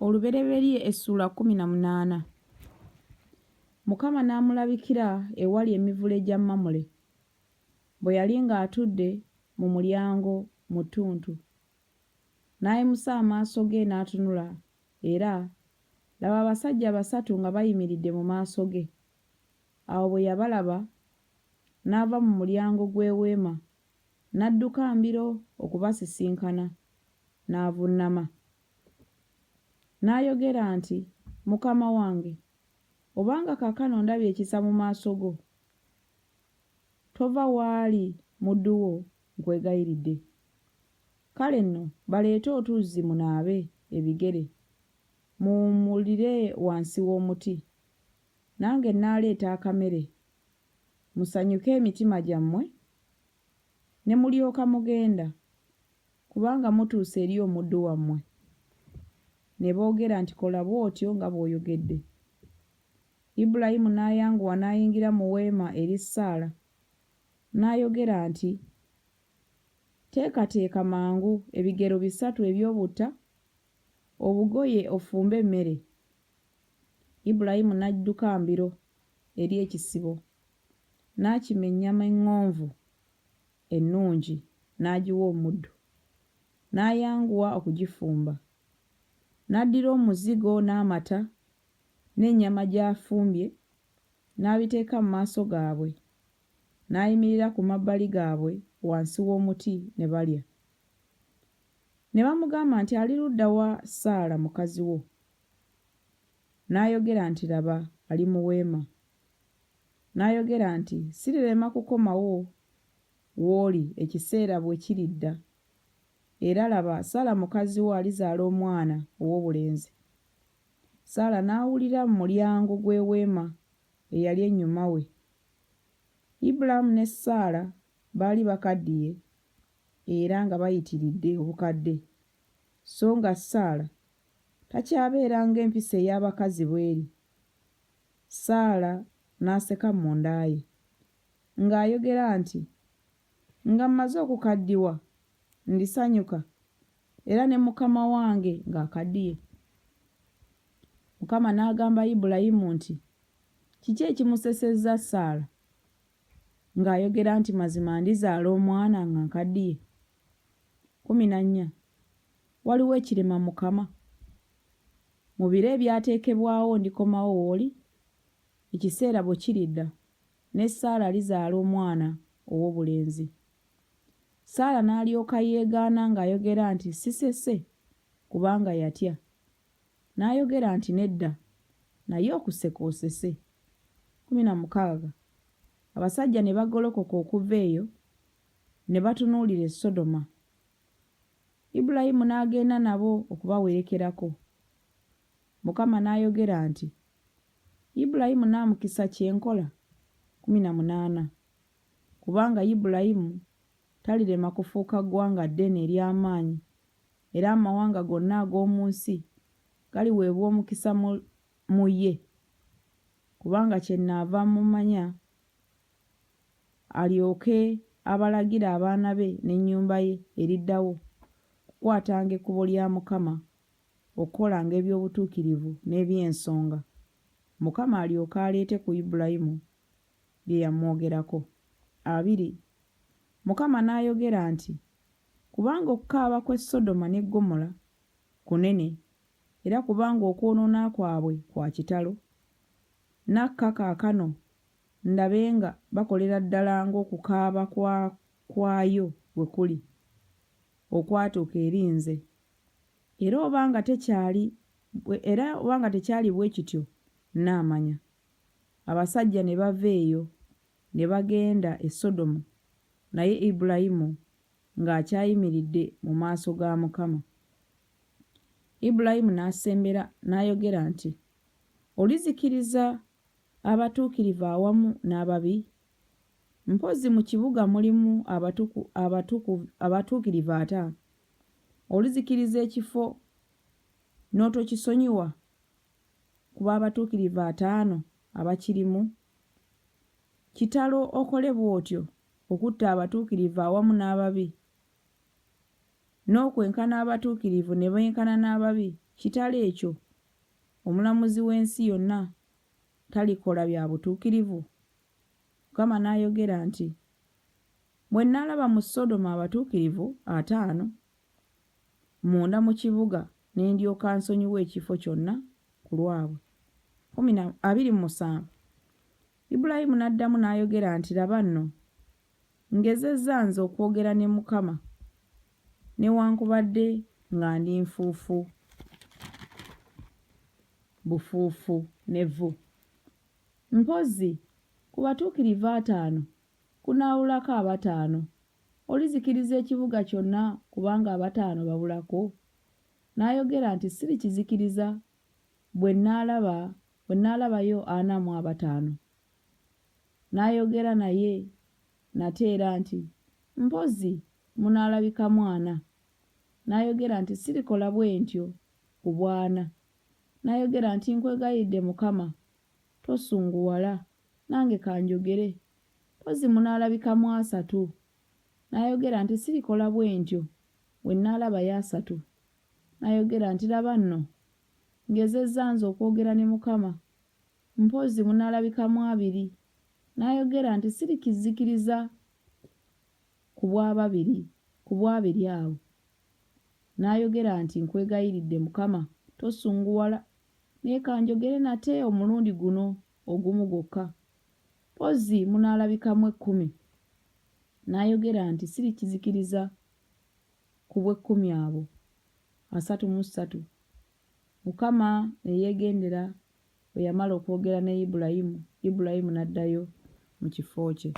olubereberye essula kumi na munaana mukama n'amulabikira ewali emivule gya mamule bwe yali ng'atudde mu mulyango mu ttuntu n'ayimusa amaaso ge n'atunula era laba abasajja basatu nga bayimiridde mu maaso ge awo bwe yabalaba n'ava mu mulyango gw'eweema n'adduka mbiro okubasisinkana, n'avunnama, n'ayogera nti, Mukama wange, obanga kaakano ndabye ekisa mu maaso go, tova w'ali muddu wo nkwegayiridde. Kale nno baleete otuzzi munaabe ebigere, muwummulire wansi w'omuti, nange nnaaleeta akamere musanyuke emitima gyammwe, ne mulyoka mugenda, kubanga mutuuse eri omuddu wammwe. Ne boogera nti, Kola bw'otyo nga bw'oyogedde. Ibulayimu n'ayanguwa n'ayingira mu weema eri Saala, n'ayogera nti, Teekateeka mangu ebigero bisatu eby'obutta, Obugoye ofumbe emmere. Ibulayimu n'adduka mbiro eri ekisibo, n'akima ennyama eŋŋonvu ennungi n'agiwa omuddu, n'ayanguwa okugifumba. N'addira omuzigo n'amata n'ennyama gy'afumbye n'abiteeka mu maaso gaabwe, n'ayimirira ku mabbali gaabwe wansi w'omuti ne balya. Ne bamugamba nti, Ali ludda wa Saala mukazi wo? N'ayogera nti, Laba, ali mu weema. N'ayogera nti, Sirirema kukomawo w'oli ekiseera bwe kiridda, era laba, Saala mukazi wo alizaala omwana ow'obulenzi. Saala n'awulira mu mulyango gw'eweema eyali ennyuma we. Ibulaamu ne Saala baali bakaddiye era nga bayitiridde obukadde, sso nga Saala takyabeera ng'empisa ey'abakazi bw'eri. Saala n'aseka munda ye, ng'ayogera nti, Nga mmaze okukaddiwa, ndisanyuka, era ne mukama wange ng'akaddiye. Mukama n'agamba Ibulayimu nti, Kiki ekimusesezza Saala? Ng'ayogera nti, Mazima ndizaala omwana nga nkaddiye? Kkumi na nnya. Waliwo ekirema Mukama? Mu biro ebyateekebwawo ndikomawo w'oli, ekiseera bwe kiridda, ne Saala alizaala omwana ow'obulenzi. Saala n'alyoka yeegaana ng'ayogera nti, Sisese, kubanga yatya. N'ayogera nti, Nedda, naye okuseka osese. Kkumi na mukaaga. Abasajja ne bagolokoka okuva eyo, ne batunuulira e Sodoma. Ibulayimu n'agenda nabo okubawerekerako. Mukama n'ayogera nti, Ibulayimu nnaamukisa kye nkola? Kkumi na munaana. Kubanga Ibulayimu talirema kufuuka ggwanga ddene ery'amaanyi era amawanga gonna ag'omu nsi galiweebwa omukisa mu, mu ye, kubanga kyennaava mmumanya, alyoke abalagire abaana be n'ennyumba ye eriddawo, okukwatanga ekkubo lya Mukama, okukolanga eby'obutuukirivu n'eby'ensonga, Mukama alyoke aleete ku Ibulayimu bye yamwogerako. Abiri, Mukama n'ayogera nti, Kubanga okukaaba kw'e Sodoma ne Ggomola kunene, era kubanga okwonoona kwabwe kwa kitalo. Nakka kaakano ndabe nga bakolera ddala ng'okukaaba kwa kwayo bwe kuli, okwatuuka eri nze. Era oba nga tekyali, era oba nga tekyali bwe kityo, nnaamanya. Abasajja ne bava eyo. Ne bagenda e Sodomu, naye Ibulayimu ng'akyayimiridde mu maaso ga Mukama. Ibulayimu n'asembera n'ayogera nti, Olizikiriza abatuukirivu awamu n'ababi? Mpozzi mu kibuga mulimu abatuku, abatuku, abatuukirivu ata? Olizikiriza ekifo n'otokisonyiwa? ku b'abatuukirivu ataano abakirimu? Kitalo okole bw'otyo okutta abatuukirivu awamu n'ababi, n'okwenkana abatuukirivu ne benkana n'ababi, kitalo ekyo! Omulamuzi w'ensi yonna talikola bya butuukirivu? Mukama n'ayogera nti, Bwe nnalaba mu Sodoma abatuukirivu ataano munda mu kibuga ne ndyoka nsonyiwa ekifo kyonna ku lwabwe. Kumi na, abiri mu musanvu. Ibulayimu n'addamu n'ayogera nti, Laba nno, ngezezza nze okwogera ne Mukama, newankubadde nga ndi nfuufu bufuufu ne vvu. Mpozzi, ku batuukirivu ataano kunaawulako abataano? Olizikiriza ekibuga kyonna kubanga abataano babulako? N'ayogera nti, Sirikizikiriza bwe nnaalaba, bwe nnaalabayo ana mu abataano. N'ayogera naye nate era nti, Mpozzi munaalabikamu ana. N'ayogera nti, Sirikola bwe ntyo ku bw'ana. N'ayogera nti, Nkwegayiridde, Mukama, tosunguwala. Nange kanjogere, mpozzi munaalabikamu asatu. N'ayogera nti, Sirikola bwe ntyo, bwe nnaalabayo asatu. N'ayogera nti, Laba nno, ngezezza nze okwogera ne Mukama. Mpozzi munaalabikamu abiri. N'ayogera nti, Sirikizzikiriza ku bw'ababiri, ku bw'abiri abo. N'ayogera nti, Nkwegayiridde, Mukama, tosunguwala. Naye kanjogere nate omulundi guno. ogumu gwokka, mpozzi munaalabikamu ekkumi, n'ayogera nti, Sirikizikiriza ku bw'ekkumi abo, asatu mu ssatu. Mukama ne yeegendera bwe yamala okwogera ne Ibulayimu, Ibulayimu n'addayo mu kifo kye.